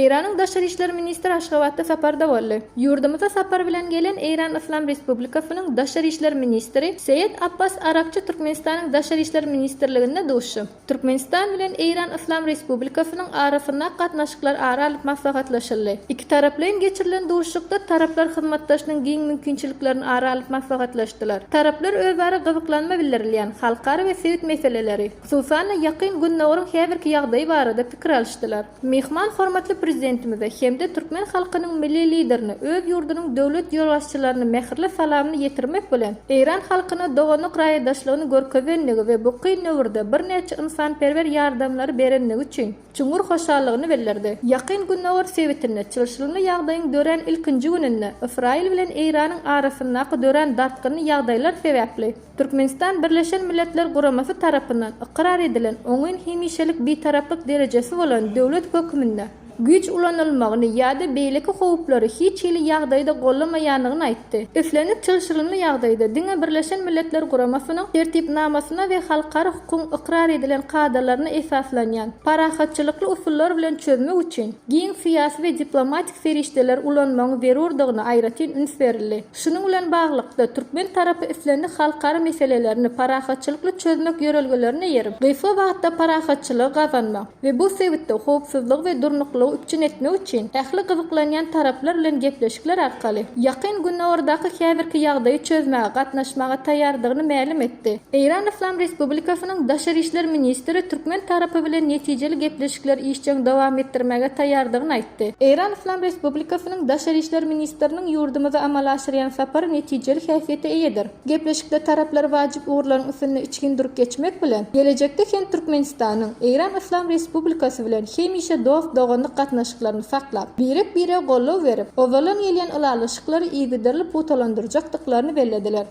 Eýranyň daşary işler ministri Aşgabatda saparda boldy. Ýurdumyza sapar bilen gelen Eýran Yslam Respublikasynyň daşary işler ministri Seýed Abbas Aragçy Türkmenistanyň Daşary işler ministrliginde duşuşy. Türkmenistan bilen Eýran Yslam Respublikasynyň arasynda gatnaşyklar ara alyp maslahatlaşyldy. Ikitaraplaýyn geçirilen duşuşykda taraplar hyzmatdaşlygyň giň mümkinçiliklerini ara alyp maslahatlaşdylar. Taraplar özara gyzyklanma bildirilýän halkara we sebit meseleleri, hususan-da, Ýakyn Gündogaryň häzirki ýagdaýy barada pikir alyşdylar. Myhman hormatly Prezidentimize hem-de türkmen halkynyň Milli Liderine öz ýurdunyň döwlet ýolbaşçylaryna mähirli salamyny ýetirmek bilen, eýran halkyna doganlyk raýdaşlygyny görkezendigi we bu kyn döwürde birnäçe ynsanperwer ýardamlary berendigi üçin çuňňur hoşallygyny bildirdi. Ýakyn Gündogar sebitinde çylşyrymly ýagdaýyň dörän ilkinji gününde Ysraýyl bilen Eýranyň arasyndaky dörän dartgynly ýagdaýlar sebäpli, Türkmenistan Birleşen Milletler Guramasy tarapyndan ykrar edilen oňyn hemişelik Bitaraplyk derejesi bolan döwlet hökmünde güýç ulanylmagyny ýa-da beýleki howplary hiç hili ýagdaýda goldamaýandygyny aýtdy. Islendik çylşyrymly ýagdaýda diňe Birleşen Milletler Guramasynyň Tertipnamasyna we halkara hukugyň ykrar edilen kadalaryna esaslanýan parahatçylykly usullar bilen çözmek üçin giň syýasy we diplomatik serişdeleri ulanmagyň zerurdygyna aýratyn üns berildi. Şunuň bilen baglylykda, türkmen tarapy islendik halkara meselelerini parahatçylykly çözmek ýörelgelerine eýerip, gysga wagtda parahatçylygy gazanmak we bu sebitde howpsuzlygy we durnuklylygy üpjün etmek üçin ähli gyzyklanýan taraplar bilen gepleşikler arkaly Ýakyn Günordaky häzirki ýagdaýy çözmäge gatnaşmaga taýýardygyny mälim etdi. Eýran Yslam Respublikasynyň daşary işler ministri türkmen tarapy bilen netijeli gepleşikleri işjeň dowam etdirmäge taýýardygyny aýtdy. etdi. Eýran Yslam Respublikasynyň Daşary işler ministriniň ýurdumyza amala aşyrýan sapary netijeli häsiýete eýedir. Gepleşikde taraplar wajyp ugurlaryň üstünde içgin durup geçmek bilen, gelejekde hem Türkmenistanyň Eýran Yslam Respublikasy bilen hemişe dost-doganlyk gatnaşyklaryny saklap, birek-birege goldaw berip, owadan gelýän ylalaşyklary yzygiderli pugtalandyrjakdyklaryny bellediler.